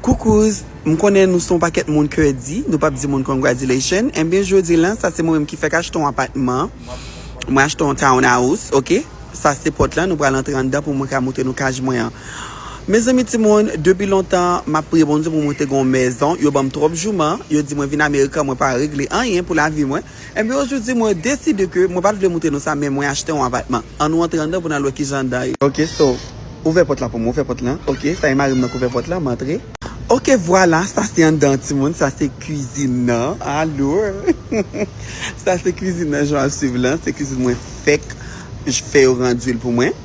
Coucous, m konnen nou son pakèt moun kè di, nou pap di moun congratulations, enbyen jodi lan sa se mwen menm ki fèk achte yon apatman, mwen achte yon town house ok, sa se pòt lan nou pral antre anndan pou mwen ka moutre nou caj mwen an. Mezanmi ti moun, depi lontan map priye Bondye pou mwen te gen yon mèzon, yo banm tròp jouman, yo di mwen vin American mwen pa regle anyen pou lavi mwen. Enben ojoudi mwen deside ke mwen pat vle moute nan sa men mwen achte yon apatman. An nou antre anndan pou nan wè kijan anndan ye. Ok so, ouvè pòt la pou mwen, ouvè pòt lan. Ok, sa e marim nan k ouvè pòt la, m antre. Ok vwala, sa se anndan an timoun, sa se kwizin nan. Alor, sa se kwizin nan jan wap swiv lan, se kwizin mwen fèk fè yo randil pou mwen.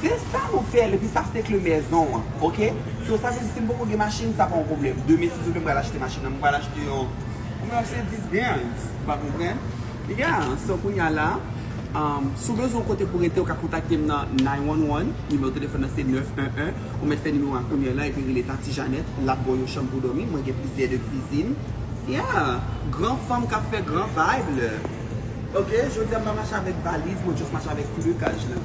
Se sa nou fel epi sa se kle mèzon an ok so sa vle di sim poko gen machine sa pa yon problem demen si Dieu vle m pral achte machine nan m pral achte yon kouman yap se dis gangs ou pa konprann yeah so kounya la umm si w bezwen yon kote pou rete ou ka kontakte m nan 911 nimewo telefòn nan se 911 ou mèt fè nimewo a kounya la epi rele tati Janèt lap baw yon chanm pou domi mwen gen plizyè de kwizin yeah gran fanm kap fè gran vibe le. Ok jodia m pa mache avek valiz mwen just mache avek plukaj lan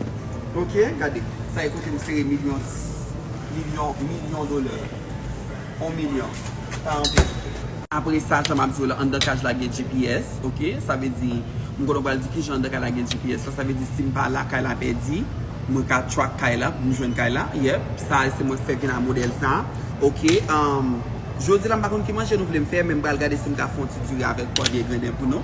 ok gade sa e kote m sere milyon milyon milyon dola on milyon pa anpil. Apresa jan map diw la andan kaj la gen GPS ok sa vle di m konnen ou pral di kijan andan kay la gen GPS la sa vle di sim pa la kay la pèdi mwen ka track kay la poum jwenn kay la yep sa se mwen fèk vin a modèl sa ok jodia la m pa konn ki manje nou vle m fè men m pral gade sim ka fon ti diri avek pwa byen grenen pou nou.